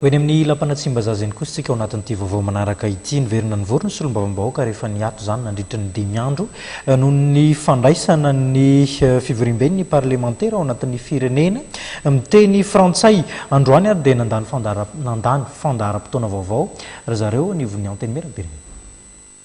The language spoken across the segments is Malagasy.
Ho eny amin'ny Lapan'Atsimbazaza eny kosa isika ao anatin'ity vaovao manaraka ity. Niverina nivory ny solombavambahoaka rehefa niato izany nandritra ny dimy andro noho ny fandraisana ny fivoriamben'ny parlemantera ao anatin'ny firenena miteny frantsay. Androany ary dia nandany nandany fandaharam-potoana vaovao ry zareo anivon'ny Antenimierampirenena.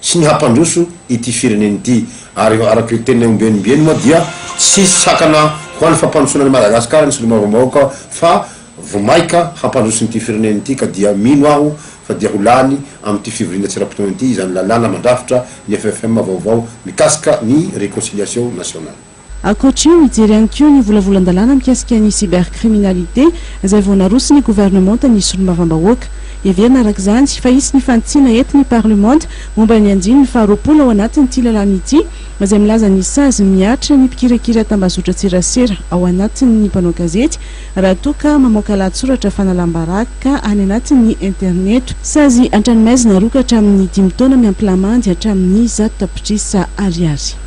sy ny hampandroso ity firenena ity ary araka ireo teniny ombieny ombieny moa dia tsy hisy sakana ho an'ny fampandrosoana an'i Madagasikara ny solombavambahoaka fa vomaika hampandroso ity firenena ity ka dia mino aho fa dia ho lany amin'ity fivoriana tsy ara-potoana ity izany lalàna mandrafitra ny FFM vaovao mikasika ny réconciliation nationale. Ankoatra io, hijery ihany koa ny volavolan-dalàna mikasika ny cybercriminalité izay vao naroson'ny governemanta ny solombavambahoaka. Heverina araka izany fa hisy ny fanitsiana eto ny parlemanta momba ny andininy faharoapolo ao anatin'ity lalàna ity izay milaza ny sazy mihatra ny mpikirakira tambazotran-tserasera ao anatin'ny mpanao gazety raha toa ka mamoaka lahatsoratra fanalam-baraka any anatin'ny interneto. Sazy an-tranomaizina aroaka hatramin'ny dimy taona miampy lamandy hatramin'ny zato tapitrisa ariary.